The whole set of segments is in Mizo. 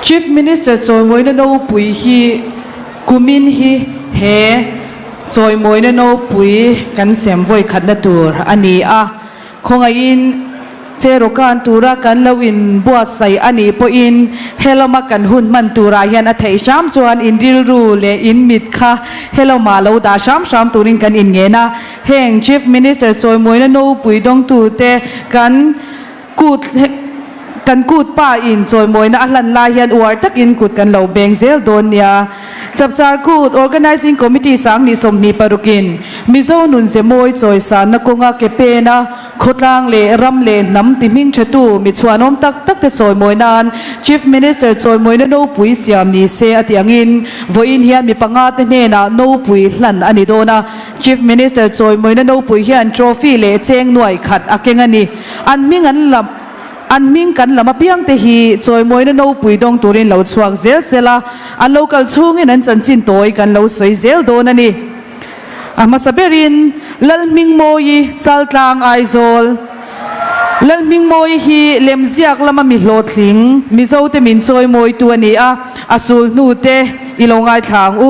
Chief Minister Chawimawina Nopui hi kumin hi he Chawimawina Nopui kan sem vawikhatna tur a ni a, khawngaihin che rawkan tura kan lo inbuatsaih a nih pawhin helawma kan hun hman turah hian a theih hram chuan in rilru leh in mit kha helawmah lo dah hram hram turin kan inngen a, heng Chief Minister Chawimawina Nopui dawngtute kan. Kut he kan kut pa in chawimawina a hlan lai hian uar takin kut kan lo beng zel dawn nia. Chapchar kut Organising Committee sang ni sawmhnih paruk in Mizo nun zemawi chawisanna kawnga ke pena, khawtlang leh ram leh hnam ti hming thetu mi chhuanawm tak tak te chawimawih nan Chief Minister chawimawina nopui siam ni se a ti angin vawiin hian mi panga te hnenah nopui hlan a ni dawn a. Chief Minister Chawimawina naupui hian trophy leh cheng nuai khat a keng a ni. An hming an lam an hming kan lam apiang te hi Chawimawina naupui dawng turin lo chhuak zel zel a, a lo kal chhungin an chanchin tawi kan lo sawi zel dawn a ni. A hmasa berin Lalhming Mawi i Chaltlang Aizawl, Lalhming Mawi hi Lemziak lama mi hlawhtling Mizote min chawi mawitu a ni a, a sulhnute i lo ngaithla ang u.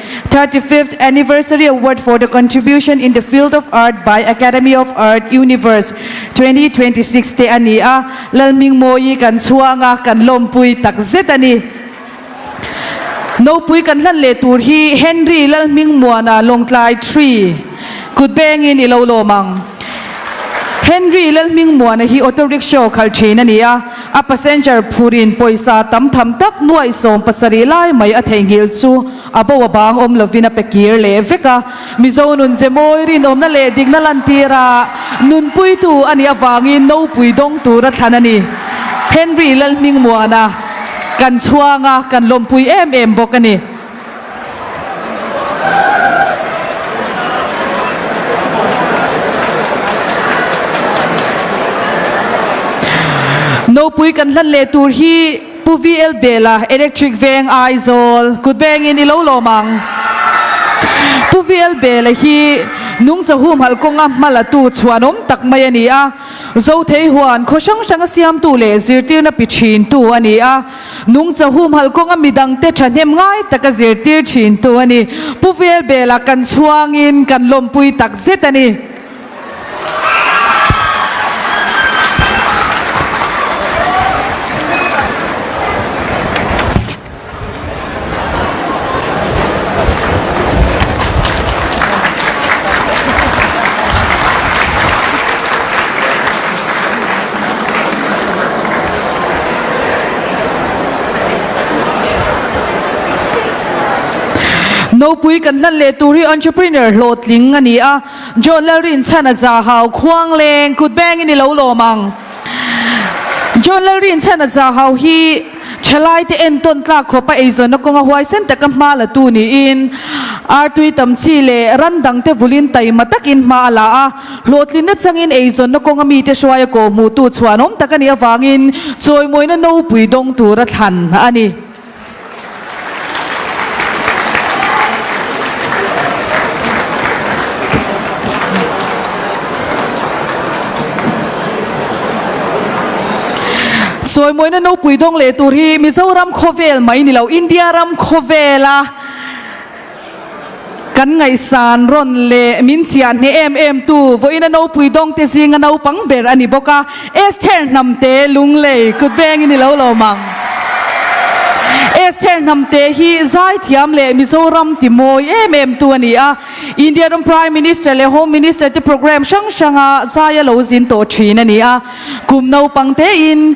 Thirty fifth Anniversary Award for the Contribution in the Field of Art by Academy of Art, Universe, twenty twenty six te a ni a, Lalming Mawi kan chhuang a, kan lawmpui tak zet a ni. Nopui kan hlan leh tur hi Henry Lalming Muana Lawngtlai three kutbengin i lo lawm ang. Henry Lalming Muana hi auto rickshaw khalh thin a ni a, A passenger phur in pawisa tam tham tak nuaih sawm pasarih lai mai a theihnghilh chu a bo avang awm lovin a pe kir leh vek a. Mizo nunzemawi rinawmna leh dikna lantira nunpuitu a nih avangin nopui dawng tur a thlan a ni. Henry Lalhningmuana kan chhuanga kan lawmpui em em bawk a ni. Nopui kan hlan leh tur hi Pu VL Bela, Electric veng, Aizawl. Kut bengin i lo lawm ang. Pu VL Bela hi Nung Chahumhalh kawnga hma latu chhuanawm tak mai a ni a. Zothei huan khaw hrang hranga siamtu leh zirtirna pi thintu a ni a. Nung chahum halh kawnga midang te thahnem ngai taka zirtir thin tu a ni. Pu Velbela kan chhuangin kan lawmpui tak zet a ni. Nopui kan hlan leh tur hi entrepreneur hlawhtling a ni a. John Lalrinchhana zahau khuangleng kutbeng in i lo lawm ang. John Lalri inchhiatna zahau hi thelaite entawn tlak khawpa eizawnna kawnga huaisen taka hma la tu niin artui tam chi leh ran dangte vulin taima takin hma a la a. Hlawhtlinna changin eizawnna kawnga mite hruaia kawhhmuhtu chhuanawm tak a nih avangin chawimawina nopui dawng tura thlan a ni. Sawimawi na nopui dawng leh tur hi Mizoram khawvel mai ni lo, India ram khawvela. Kan ngaihsan rawn leh min chiah hneh em em tu vawiina nopui dawngte zinga naupang ber a ni bawk a. Esther Hnamte, Lunglei, Kutbeng in i lo lawm ang. Esther Hnamte hi zaithiam leh Mizoram timawi em em tu a ni a. India ram Prime Minister leh Home Minister te programme hrang hranga zai a lo zin tawh thin a ni a. Kum naupangte in,